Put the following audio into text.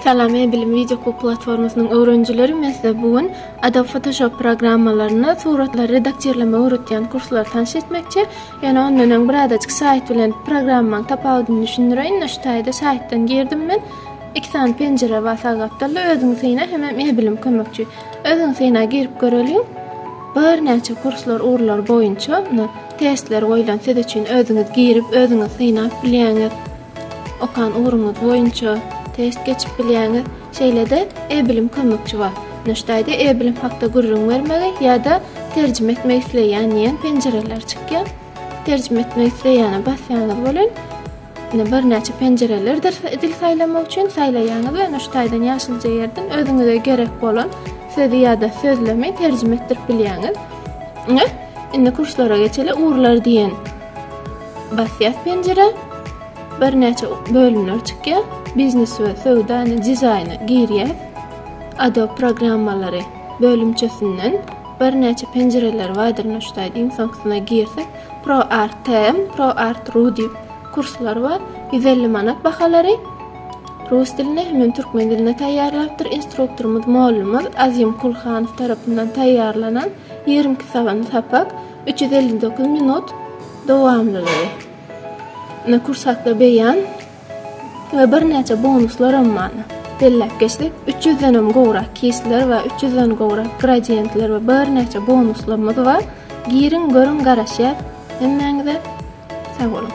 Salam E-bilim wideo hukuk platformasynyň öwrenijileri men size bu gün Adobe Photoshop programmalaryny suratlary redaktirlemek öwretýän kurslary tanş etmekçi. Ýöne ondan öň birazajyk saýt bilen programmanyň tapawudyny düşündireýin. Ine şu taýda saýtdan girdim men. Iki sany penjire bar sag gapdalda özüňi syna hemem E-bilim kömekçi. Özüňi syna girip göreliň. Birnäçe kurslar ugurlar boýunça testler goýlan siz üçin özüňiz girip özüňiz synap bilýäňiz. Okan ugruňyz boýunça test geçip bilýäňiz. Şeýle-de e-bilim kömekçi bar. Nuştaýda e-bilim hakda gürrüň bermegi ýa-da terjime etmek isleýän diýen penjireler çykýar. Terjime etmek isleýäne basýaňyz welin, indi birnäçe penjirelerdir dil saýlamak üçin saýlaýaňyz we nuştaýdan ýaşylja ýerden özüňize gerek bolan sözi ýa-da sözlemi terjime etdirip bilýäňiz. Ine, indi kurslara geçeli, ugurlar diýen Basýas penjire birnäçe bölümler çykýar. Biznes we söwdany dizaýny girýär. Adobe programmalary bölümçesinden birnäçe penjireler bardyr nuştaýda iň soňkusyna girsek Pro Art TM, Pro Art Ru diýip kurslar bar. 150 manat bahalary. Rus dilinde hem türkmen dilinde taýýarlapdyr. Instruktorymyz mollumyz Azim Kulhanow tarapyndan taýýarlanan 22 sagan sapak, 359 minut dowamlylygy, indi kursatly beýan we birnäçe bonuslar hem bar. Belläp geçsek, üç ýüzden hem gowrak keýsler we üç ýüzden gowrak gradientler we birnäçe bonuslarymyz bar. Giriň, görüň, garaşýas hemmäňize. Sag boluň!